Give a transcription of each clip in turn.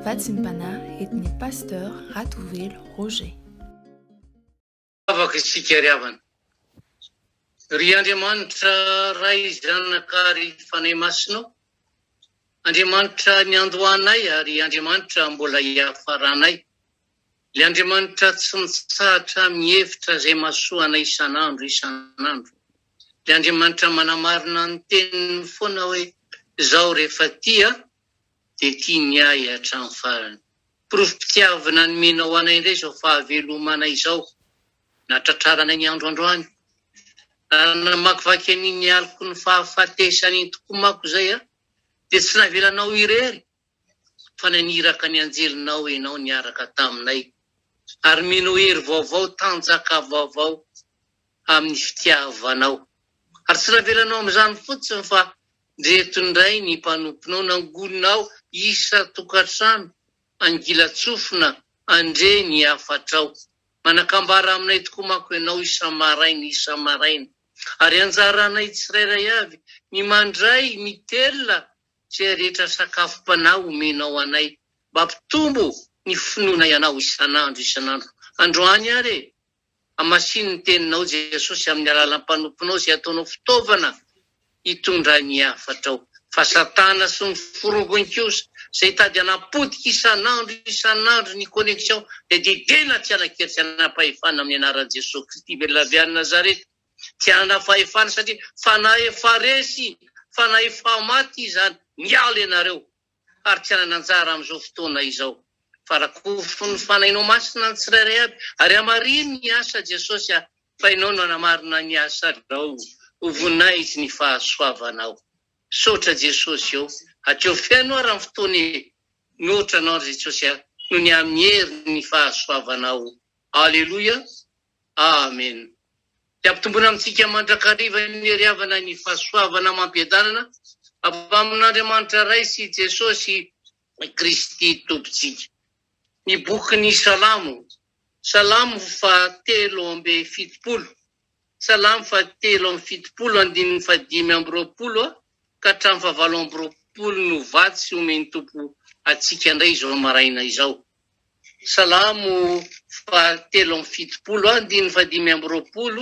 Vatsim-panahy entin'ny Pasteur Ratovelo Roger. Afaka isika ry havana. Ry Andriamanitra Ray Zanaka ary Fanahy Masina ô, Andriamanitra niandohanay ary Andriamanitra mbola hiafaranay. Ilay Andriamanitra tsy mitsahatra mihevitra izay mahasoa anay isan'andro isan'andro. Ilay Andriamanitra manamarina ny teniny foana hoe izaho rehefa tia dia tia ny ahy hatramin'ny farany. Porofom-pitiavana nomenao anay indray izao fahavelomanay izao natratraranay ny andro androany. Raha namakivaky an'iny alikony fahafatesan'iny tokoa manko izay aho dia tsy navelanao irery fa naniraka ny anjelinao Ianao niaraka taminay, ary mino hery vaovao, tanjaka vaovao amin'ny fitiavanao. Ary tsy navelanao amin'izany fotsiny fa ndreto indray ny mpanomponao nangoninao isan-tokantrano, angilan-tsofina, Andre ny hafatrao. Manakambara aminay tokoa manko Ianao isa-maraina isa-maraina, ary anjaranay tsirairay avy ny mandray ny telina Izay rehetra sakafom-panahy omenao anay, mba hampitombo ny finoanay Anao isan'andro isan'andro. Androany àry e! Hamasino ny Teninao, Jesosy, amin'ny alalan'ny mpanomponao izay ataonao fitaovana hitondra ny hafatrao. Fa Satana sy ny forongony kosa, izay hitady hanapotika isan'andro isan'andro ny connexion, dia didena tsy hanan-kery tsy hanam-pahefana amin'ny anaran'i Jesosy Kristy velona avy any Nazareta. Tsy hanana fahefana satria fanahy efa resy, fanahy efa maty izany. Miala ianareo ary tsy hanana anjara amin'izao fotoana izao fa rakofin'ny fanahinao masina ny tsirairay aby ary hamarino ny asa Jesosy a! fa ianao no hanamarina ny asanao. Ho voninahitry ny fahasoavanao. Misaotra Jesosy ô! Hatreo feno ary amin'ny fotoana e! Mihoatra anao ry Jesosy a! noho ny amin'ny herin'ny fahasoavanao. Aleloia! Amen! Dia ampitomboina amintsika mandrakariva ny hery havana ny fahasoavana amam-piadanana avy amin'Andriamanitra Ray sy Jesosy Kristy Tompontsika. Ny bokin'ny Salamo, Salamo faha telo amby fitopolo, Salamo faha telo amby fitopolo andininy faha dimy amby roapolo ka hatramin'ny faha valo amby roapolo no vatsy omen'ny Tompo antsika indray izao maraina izao. Salamo fahatelo amby fitopolo andininy fahadimy amby roapolo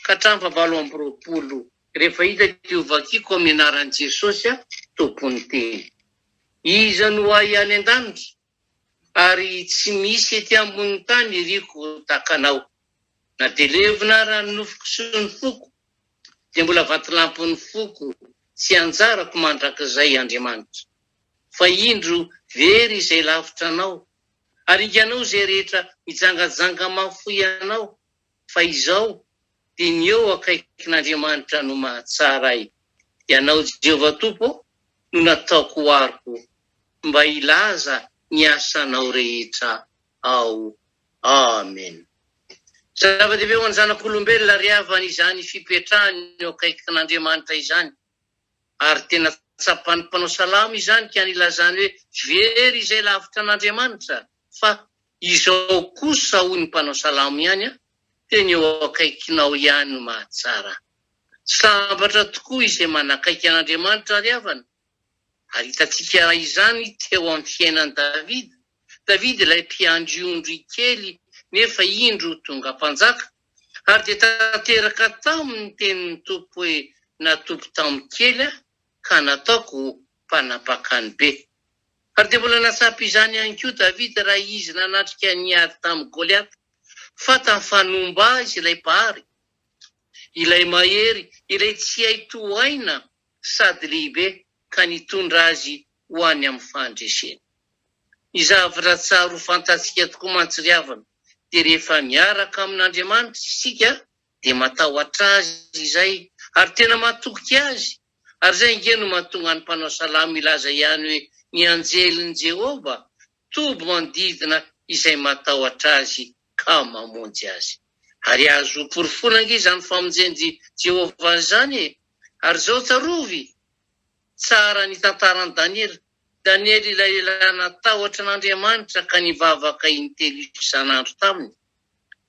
ka hatramin'ny fahavalo amby roapolo Rehefa hita dia hovakiko amin'ny anaran'i Jesosy aho, Tompon'ny teny. Iza no ahy any an-danitra? Ary tsy misy ety ambonin'ny tany iriko ho takanao. Na dia levona ary ny nofoko sy ny foko, dia mbola vatolampin'ny foko sy anjarako mandrakizay Andriamanitra. Fa indro very izay lavitra anao, ary inganao izay rehetra mijangajanga mahafoy anao, fa izao dia ny eo akaikin'Andriamanitra no mahatsara ahy. Ianao Jehovah Tompo ô, no nataoko ho aroko, mba hilaza ny asanao rehetra. ao. Amen. Zava-dehibe ho an'ny zanak'olombelona ry havana izany fipetrahany eo akaikin'Andriamanitra izany, ary tena tsapan'ny mpanao salamo izany ka nilazany hoe very izay lavitra an'Andriamanitra, fa izao kosa hoy ny mpanao salamo ihany an, teny eo akaikinao ihany ny mahatsara. Sambatra tokoa izay manakaiky an'Andriamanitra ry havana, ary hitantsika izany teo amin'ny fiainan'i Davida. Davida ilay mpiandry ondry kely nefa indro tonga mpanjaka, ary dia tanteraka tao ny tenin'ny Tompo hoe, Natoky tamin'ny kely aho, ka nataoko mpanapakany be. Ary dia mbola nahatsapa izany ihany koa Davida raha izy nanatrika ny ady tamin'i Goliata, fa tafanomba azy ilay mpahary, ilay mahery, ilay tsy hay tohaina sady lehibe ka nitondra azy ho any amin'ny fahandresena. Ny zavatra-tsara ho fantatsika tokoa mantsy ry havana dia rehefa miaraka amin'Andriamanitra isika dia matahotra Azy izay ary tena matoky Azy ary izay ange no mahatonga ny mpanao salamo hilaza ihany hoe ny anjelin'i Jehovah Toby manodidina izay matahotra azy ka mamonjy azy. Ary azo porofoina ange izany famonjen'i Jehovah izany e! Ary izao tsarovy tsara ny tantaran'i Daniela. Daniela ilay lehilahy natahotra an'Andriamanitra ka nivavaka intelo isan'andro taminy.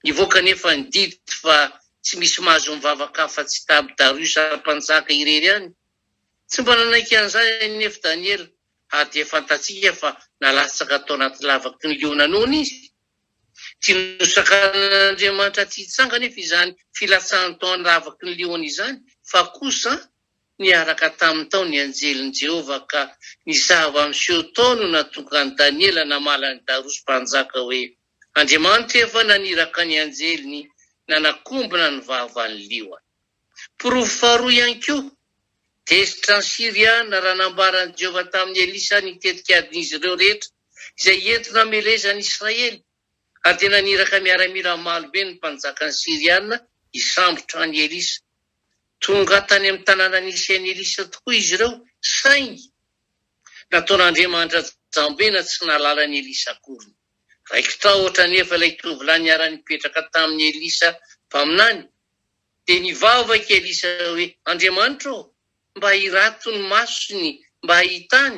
Nivoaka anefa ny didy fa tsy misy mahazo mivavaka afa-tsy Daby Dariosa Mpanjaka irery ihany. Tsy mba nanaiky an'izany anefa Daniela ary dia fantatsika fa nalatsaka tao anaty lavaky ny liona noana izy. Tsy nosakanin'Andriamanitra tsy hitsanga anefa izany filatsahany tao an-davaky ny liona izany, fa kosa niaraka taminy tao ny anjelin'i Jehovah, ka ny zava-miseho tao no nahatonga an'i Daniela namaly an'i Darosy mpanjaka hoe, Andriamanitra efa naniraka ny anjeliny nanakombona ny vavan'ny liona. Porofo faharoa ihany koa, tezitra ny Syriana raha nambaran'i Jehovah tamin'i Elisa ny tetikadin'izy ireo rehetra izay entina hamelezana i Israely, ary dia naniraka miaramila maro be ny mpanjakan'ny Syriana hisambotra an'i Elisa. Tonga tany amin'ny tanàna nisy an'i Elisa tokoa izy ireo, saingy nataon'Andriamanitra jambena tsy nahalala an'i Elisa akory. Raiki-tahotra anefa ilay tovolahy niara-nipetraka tamin'i Elisa mpaminany, Dia nivavaka i Elisa hoe, Andriamanitra ô, mba hirato ny masony mba hahitany,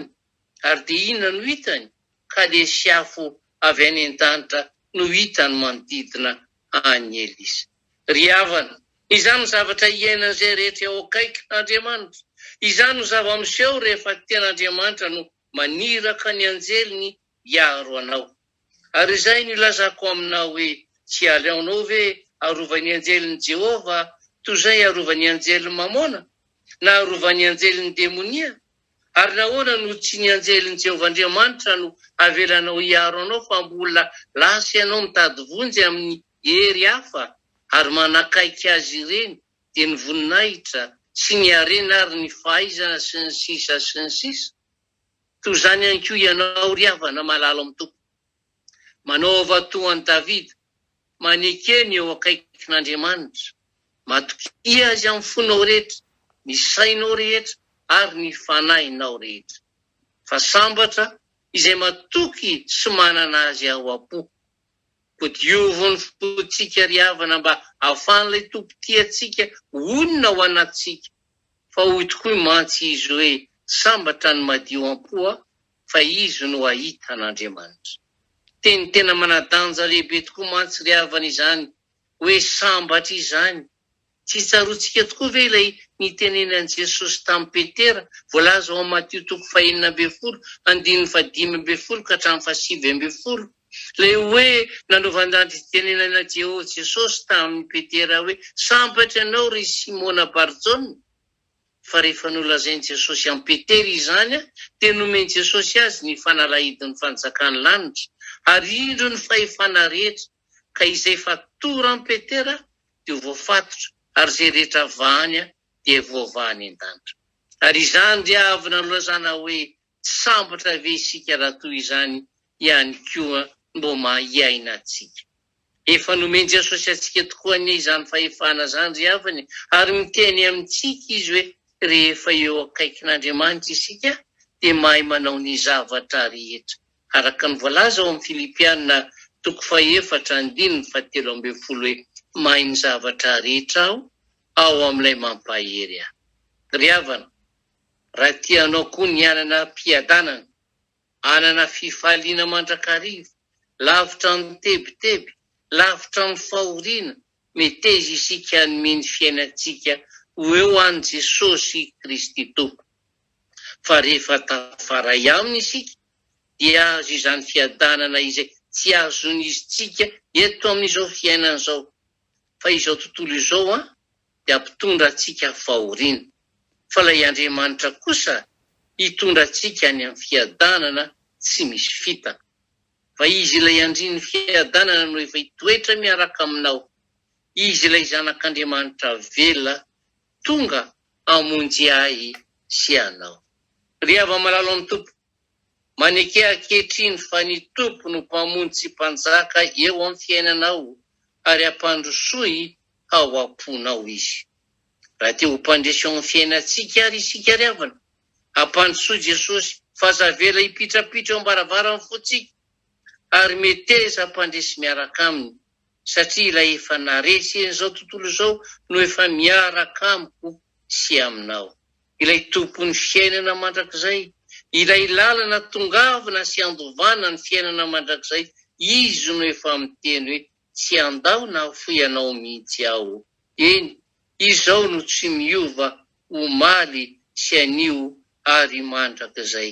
ary dia inona no hitany? Kalesy afo avy any an-danitra no hitany manodidina an'i Elisa. Ry havana, izany no zavatra iainan'izay rehetra eo akaikin'Andriamanitra. Izany no zava-miseho rehefa tena Andriamanitra no maniraka ny anjeliny hiaro anao. Ary izay nilazako aminao hoe, 'Tsy aleonao ve arovan'ny anjelin'i Jehovah toy izay arovan'ny anjelin'i Mamôna, na arovan'ny anjelin'ny demonia? Ary nahoana no tsy ny anjelin'i Jehovah Andriamanitra no avelanao hiaro anao fa mbola lasa ianao mitady vonjy amin'ny hery hafa ary manakaiky azy ireny, dia ny voninahitra, sy ny harena ary ny fahaizana, sy ny sisa sy ny sisa? Toy izany ihany koa ianao, ry havana malalo amin'ny Tompo. Manaova toa an'i Davida, maneke ny eo akaikin'Andriamanitra. Matokia Azy amin'ny fonao rehetra, ny sainao rehetra ary ny fanahinao rehetra. Fa sambatra izay matoky sy manana Azy ao am-po. Ampodiovy ny fontsika ry havana mba hahafahan'ilay Tompo tia antsika honina ao anatintsika. Fa hoy tokoa mantsy Izy hoe, Sambatra ny madio am-po a, fa izy no hahita an'Andriamanitra. Teny tena manadanja lehibe tokoa mantsy ry havana izany hoe sambatra izany. Tsy tsaroantsika tokoa ve ilay nitenenan'i Jesosy tamin'i Petera, voalaza ao amin'ny Matio toko fahenina ambin'ny folo, andininy fahadimy ambin'ny folo ka hatramin'ny fahasivy ambin'ny folo, ilay hoe nanaovan-dati-pitenenana Jehovah Jesosy tamin'i Petera hoe, Sambatra ianao, ry Simona Bar-Jona, fa rehefa nolazain'i Jesosy an'i Petera izany, dia nomen'i Jesosy azy ny fanalahidin'ny fanjakan'ny lanitra, ary indro ny fahefana rehetra, ka izay fatora an'i Petera dia ho voafatotra, ary izay rehetra avaha any dia voavaha any an-danitra. Ary izany dia avy nalazana hoe tsy sambatra ve isika raha toy izany ihany koa no maha hiaina antsika? Efa nomen'i Jesosy antsika tokoa anie izany fahefana izany ry havana e! Ary miteny amintsika Izy hoe rehefa eo akaikin'Andriamanitra isika dia mahay manao ny zavatra rehetra. Araka ny voalaza ao amin'ny Filipiana toko fahefatra andininy fahatelo ambin'ny folo hoe, Mahay ny zavatra rehetra Aho, ao amin'ilay mampahery ahy. Ry havana, raha tianao koa ny hanana am-piadanana, hanana fifaliana mandrakariva, lavitra amin'ny tebiteby, lavitra amin'ny fahoriana, meteza isika hanome ny fiainantsika ho eo an'i Jesosy Kristy Tompo. fa rehefa tafaray aminy isika dia azo izany fiadanana izay tsy azon'iztsika eto amin'izao fiainana izao fa izao tontolo izao an dia mpitondra antsika fahoriana fa ilay Andriamanitra kosa hitondra antsika any amin'ny fiadanana tsy misy fitaka fa izy ilay andrin'ny fiadanana no efa hitoetra miaraka aminao izy ilay zanak'Andriamanitra velona Tonga hamonjy ahy sy anao. Ry hava-malalo amin'ny Tompo. Maneke ankehitriny fa ny Tompo no Mpamonjy sy Mpanjaka eo amin'ny fiainanao ary hampandrosoy ao am-ponao Izy. Raha te ho mpandresy ao amin'ny fiainantsika ary isika ry havana, hampandrosoy Jesosy fa aza avela hipitrapitra eo am-baravaran'ny fontsika ary meteza hampandresy miaraka Aminy. satria ilay efa naresy en'izao tontolo izao no efa miaraka amiko sy aminao. Ilay Tompon'ny fiainana mandrakizay, ilay lalana tongavana sy andovana ny fiainana mandrakizay, Izy no efa miteny hoe, Tsy handao na hafoy anao mihitsy Aho. Eny, Izao no tsy miova omaly sy anio ary mandrakizay.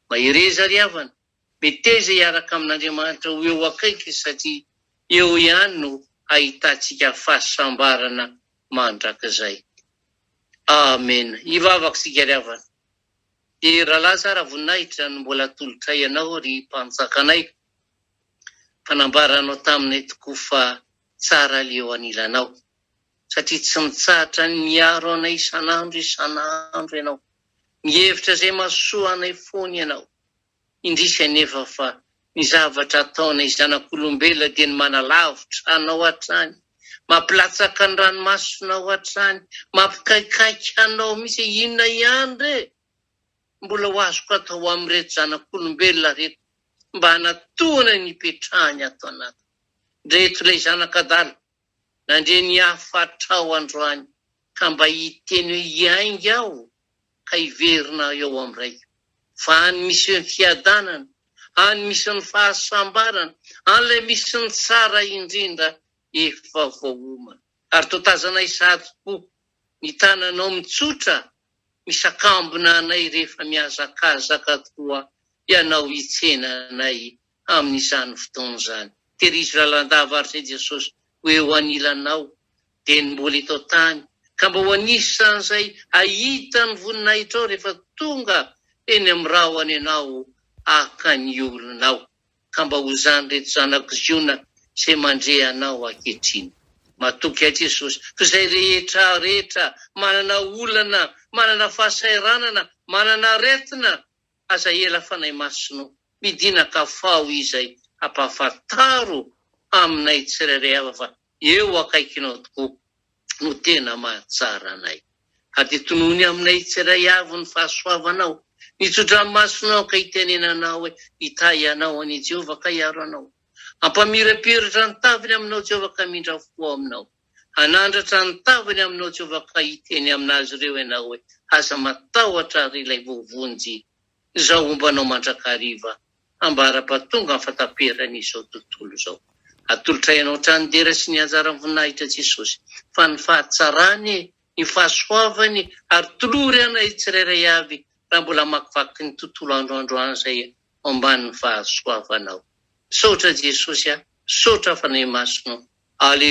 Mahereza ry havana! Meteza hiaraka amin'Andriamanitra ho eo akaiky satria eo ihany no hahitantsika fahasambarana mandrakizay. Amena. Hivavaka isika ry havana. Dia Rahalahy tsara voninahitra no mbola atolotray anao ry Mpanjakanay fa nambaranao taminay tokoa fa tsara ilay eo anilanao satria tsy mitsahatra ny miaro anay isan'andro isan'andro ianao. Mihevitra izay mahasoa anay foana ianao. Indrisy anefa fa ny zavatra ataonay zanak'olombelona dia ny manalavitra hanao hatrany, mampilatsaka ny ranomasonao hatrany, mampikaikaika hanao mihitsy hoe inona ihany re mbola ho azoko atao amin'ireto zanak'olombelona reto mba hanatohana ny hipetrahany ato anatiny reto ilay zanak'adala. Nandre ny hafatrao androany ka mba hiteny hoe hiainga aho ka hiverina aho eo amin'ny Raiko. Fa any misy ny fiadanana, any misy ny fahasambarana, an'ilay misy ny tsara indrindra efa voaomana. Ary toa tazanay sahady po ny tananao mitsotra misakambina anay rehefa mihazakazaka tokoa ianao hitsena anay amin'izany fotoana izany. Tehirizo lalandava ary izay Jesosy ho eo anilanao, dia ny mbola eto an-tany, ka mba ho anisan'izay hahita ny voninahitrao rehefa tonga eny amin'ny rahona ianao haka ny olonao, ka mba ho izany ireto zanako Ziona izay mandre anao ankehitriny. Matoky ahy Jesosy, fa izay rehetra rehetra manana olana, manana fahasahiranana, manana aretina, Aza ela Fanahy Masina o! Midinaka faho izay hampahafantaro aminay tsirairay avy fa eo akaikinao tokoa no tena mahatsara anay. Haditonoany aminay tsiray avy ny fahasoavanao, ny tso-dranomasonao ka hitenenanao hoe, Hitahy anao anie Jehovah ka hiaro anao. Hampamirapiratra ny taviny aminao Jehovah ka hamindra fo ao aminao. Hanandratra ny tavany aminao Jehovah ka hiteny amin'azy ireo ianao hoe, Aza matahotra ary ilay voavonjy izao homba anao mandrakariva ambara-pa tonga ny fahataperan'izao tontolo izao. Atolotray ianao hatrany dera sy ny anjaran'ny voninahitra Jesosy fa ny fahatsarany, ny fahasoavany ary tolory anay tsirairay avy raha mbola hamakivaky ny tontolo andro androany izay ao ambanin'ny fahasoavanao. Misaotra Jesosy a! Misaotra fanahy masina o! Alléluia!